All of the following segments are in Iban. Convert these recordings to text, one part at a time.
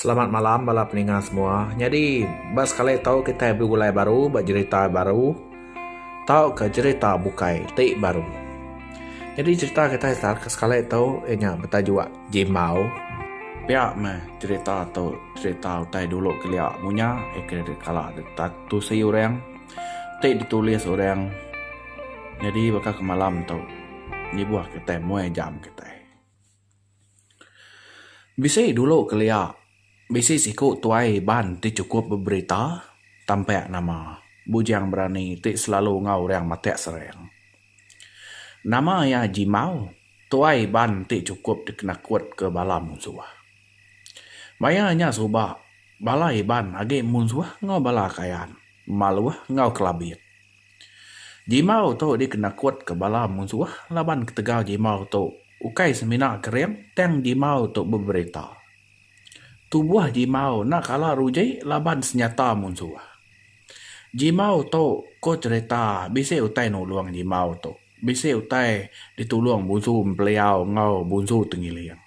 Selamat malam bala peninga semua. Nyadi ba sekali tu kitai begulai baru ba jerita baru tauka jerita bukai ti baru. Nyadi jerita kitai ke sekali tu iya nya betajuk Jimbau. Pia meh jerita tu jerita utai dulu kelia mu nya kala deka tusi orang ti ditulis orang nyadi baka ke malam tu ngibuh kitai muai jam kitai. Bisi dulu kelia bisi siku tuai Iban ti chukup beberita tampek nama Bujang Berani ti selalu enggau orang matek sereng. Nama iya Jimau, tuai Iban ti chukup dikenakut ke bala munsuh. Maya nya suba bala Iban agi munsuh enggau bala Kayan, Maluh enggau Kelabit. Jimau tu dikenakutka bala munsuh laban ketegal jimau tu ukai semina kering tang jimau tu beberita. Tubuh jimau enda kala ruji laban senyata munsuh. Jimau tu ko cherita bisi utai nulung jimau tu bisi utai ditulung bunsu empeliau enggau bunsu tengiling.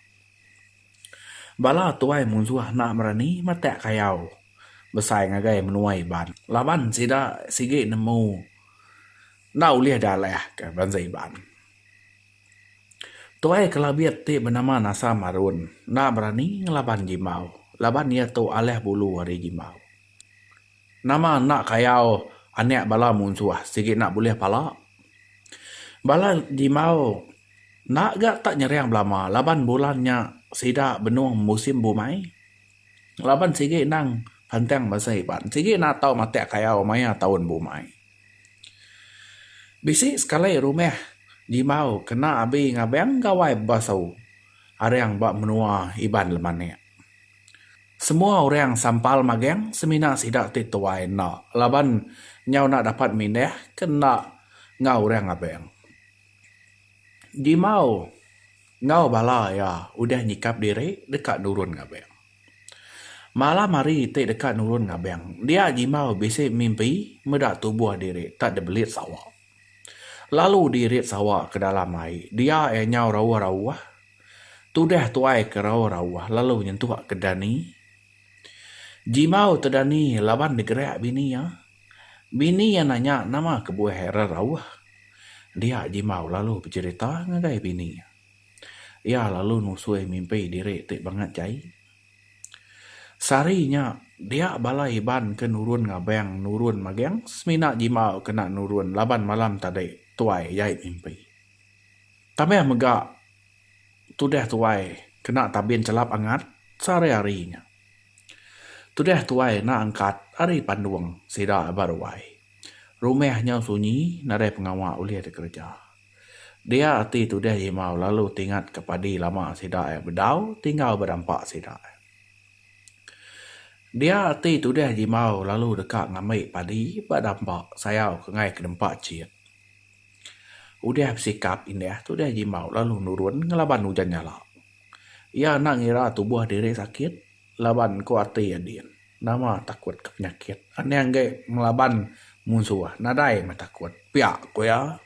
Bala tuai munsuh enda berani matak kayau besai ngagai menua Iban laban sida sigi nemu enda ulih dalah ke bansa Iban. Tuai Kelabit ti benama Nasam Arun enda berani ngelaban Gimau laban iya tu alah bulu ari Gimau. Nama enda kayau anak bala munsuh sigi enda bulih pala. Bala dimau enda ga tak nyerang belama laban bulan nya sida benung musim bumai laban sigi endang pantang bansa Iban sigi enda tau matak kayau maya taun bumai. Bisi sekali rumah dimau kena abi ngabang gawai bebasau arang ba menua Iban lemanak. Semua orang sampal magang semina sida ti tuai enda laban nyau enda dapat mindah ke enda enggau orang abang. Jimau enggau bala iya udah nyikap diri deka nurun ngabang. Malam hari ti deka nurun ngabang dia Jimau bisi mimpi meda tubuh diri tak dibelit sawa. Lalu dirit sawa ke dalam ai. Dia iya nyau rauh-rauh. Tudah tuai ke rauh-rauh lalu nyentuk ke Dani. Jimau te Dani laban digerak bini iya. Bini iya nanya nama kebuah era rauh. Dia Jimau lalu becerita ngagai bini iya. Iya lalu nusui mimpi diri ti bangat jai. Sehari nya, dia bala Iban ke nurun ngabang nurun maging semina jimba kena nurun laban malam tadi tuai jai mimpi. Tambah mega, tudah tuai kena tabin chelap angat sehari-hari nya. Tudah tuai enda angkat ari pandung sida ba ruai. Rumah nya sunyi nadai pengawa ulih dikereja. Dia ati tudih Jimau lalu tingat ke padi lama sida iya bedau tinggal ba dampa sida. Dia ati tudih Jimau lalu deka ngambi padi ba dampa sayau ke ngaih ke dempa chit. Udih besikap indah tudih Jimau lalu nurun ngelaban ujan nyala. Iya enda ngira tubuh diri sakit. Laban ku ati iya din. Nama takut ke penyakit. Aning ge ngelaban munsuh. Nadai meh takut. Pia ku iya.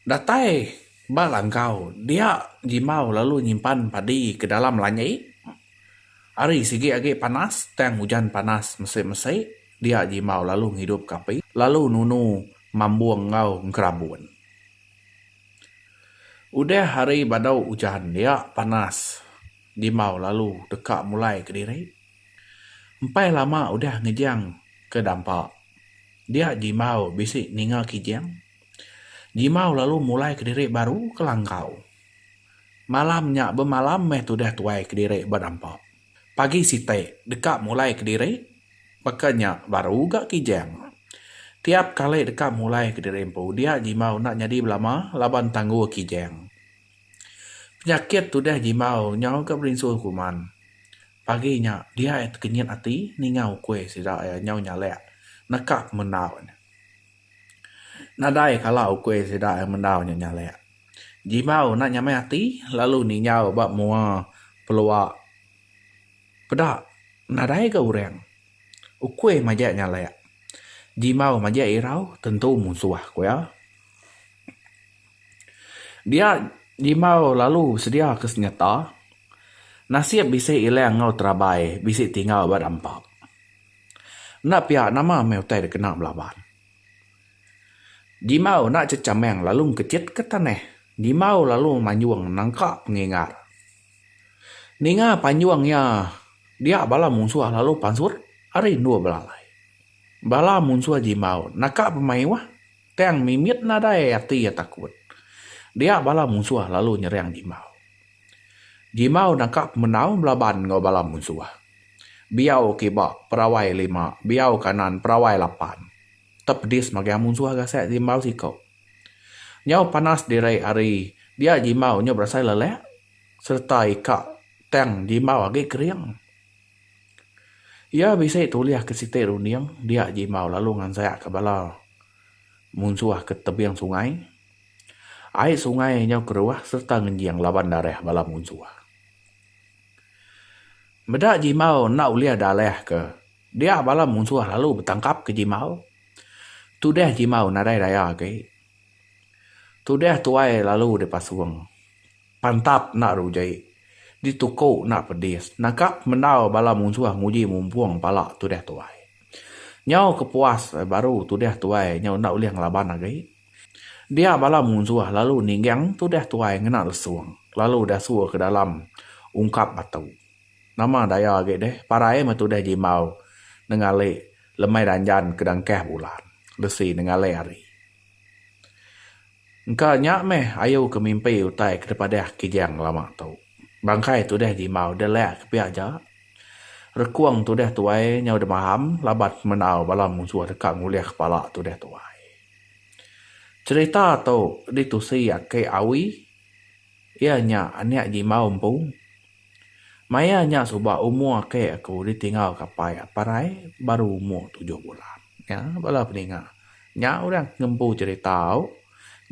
Datai ba langkau dia Jimbau lalu nyimpan padi ke dalam lanyi. Hari sigi agi panas tang ujan panas mesi-mesi dia Jimbau lalu ngidup ke api lalu nunu mambung enggau engkerabun. Udah hari badau ujan dia panas dimbau lalu deka mulai kediri. Empai lama udah ngejang ke dampa dia dimbau bisi ninga kijang dimbau lalu mulai kediri baru ke langkau. Malam nya bemalam meh tudah tuai kediri ba dampa. Pagi siti deka mulai kediri baka nya baru ga kijang. Tiap kali deka mulai kediri empu dia jimau enda nyadi belama laban tanggu kijang. Penyakit tudah jimau nyau ga berinsu kuman. Pagi nya dia tekenyit ati ninga ukui sida iya nyau nyalek neka pemendau nya. Nadai kala uku sida mendau nya nyalek. Jibau enda nyamai ati lalu ninjau ba mua pelua peda nadai ga urang. Uku majak nyalek. Jibau majak irau tentu musuh ku iya. Dia jibau lalu sedia ke senyata. Nasib bisi ilang enggau terabai bisi tinggal ba dampap. Enda pia nama meh utai da kena belaban. Dimau enda chechameng lalu engkechit ke tanah. Dimau lalu manjung nangka pengingar. Ninga panjung iya dia bala munsuh lalu pansut ari endur belalai. Bala munsuh Dimau naka pemayuh tang mimit nadai ati iya takut. Dia bala munsuh lalu nyerang Dimau. Gimau naka ku menau belaban enggau bala munsuh. Biau kiba perawai lima, biau kanan perawai lapan. Tepedis magang munsuh gasak Gimau siko. Nyau panas diri ari dia Gimau nyu berasai lelak sereta ika tang Gimau agi kering. Iya bisi tulih ke siti runding dia Gimau lalu ngansakka bala munsuh ke tebing sungai. Ai sungai nyau keruah sereta ngenjing laban darah bala munsuh. Meda Jimau enda ulih dalah ke dia bala munsuh lalu betangkap ke Jimau. Tudah Jimau nadai daya agi. Tudah tuai lalu dipasung. Pantap enda ruji. Dituku enda pedis. Naka pemendau bala munsuh nguji mumpung pala tudah tuai. Nyau kepuas baru tudah tuai nyau enda ulih ngelaban agi. Dia bala munsuh lalu ningging tudah tuai ngena lesung lalu dasur ke dalam ungkap batu. Nama daya agi deh parai meh tudah jimbau nengali lemai ranjan ke dangkah bulan lesi nengali hari. Engka nya meh ayu ke mimpi utai ke dipadah Kijang lama tu. Bangkai tudah jimbau delak ke pia aja. Rekung tudah tuai nyau demaham laban semendau bala munsuh deka ngulih kepala tudah tuai. Cerita tu ditusi aki Awi iya nya anak Jimbau empu. Maya nya suba umur aki aku ditinggal ke apai apai rai baru umur tujuh bulan. Nya bala peninga nya orang ti ngempu cerita tu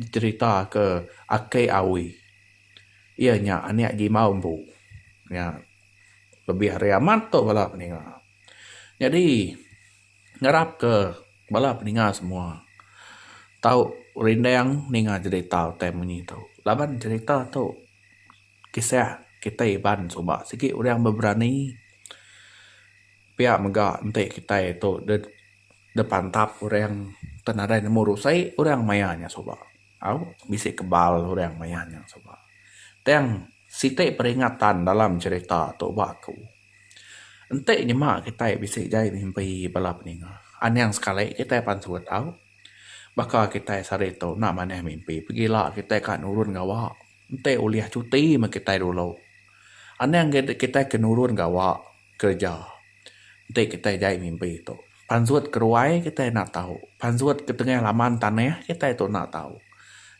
dicerita ke aki Awi iya nya anak Jimbau empu. Nya lebih hari amat tu bala peninga. Nyadi. ngarapka bala peninga semua tau rindang ninga cerita utai munyi tu laban cerita tu kisah kitai iban suba sigi orang beberani pia mega enti kitai tu deh pantap orang enti nadai nemu rusai orang mayar nya suba au bisi kebal orang mayar nya suba tang siti peringatan dalam cerita tu ba aku. Enti nyema kitai bisi jai mimpi bala peninga, anang sekali kitai pansut tau. Baka kitai sehari ditu enda manah mimpi, pegila kitai ka nurun gawa. Enti ulih cuti meh kitai dulu. Anang ga kitai ke nurun gawa kereja enti kitai jai mimpi tu. Pansut ke ruai kitai enda tau, pansut ke tengah laman tanah kitai tu enda tau.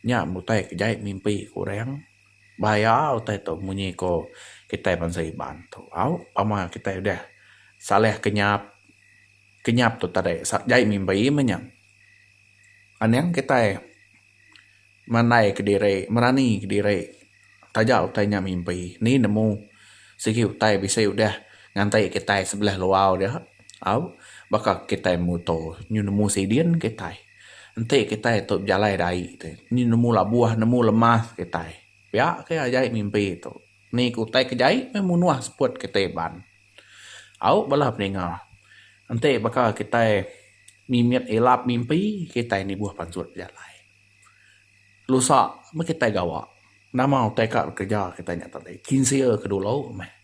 Nya utai ke jai mimpi ke orang. Bahaya utai tu munyi ko kitai bansa Iban tu. Au pama kitai udah salah ke nyap, ke nyap tu tadi jai mimbi meh nya. Anang kitai mandai ke diri, merani ke diri taja utai nya mimbi. Ni nemu sigi utai bisi udah nganti kitai sebelah luar dia. Au baka kitai muto nyu nemu sidin kitai. Enti kitai tu bejalai da ai ti, ni nemu labuh nemu lemas kitai. Pia ke ajai mimpi tu. Ni ke utai ke jai meh munuh seput kitai ban. Au bala peninga, enti baka kitai mimit ilap mimpi, kitai nibuh pansut bejalai. Lusa meh kitai gawa. Nama utai ka bekereja kitai nya tadi. Kinsil ke dulu meh.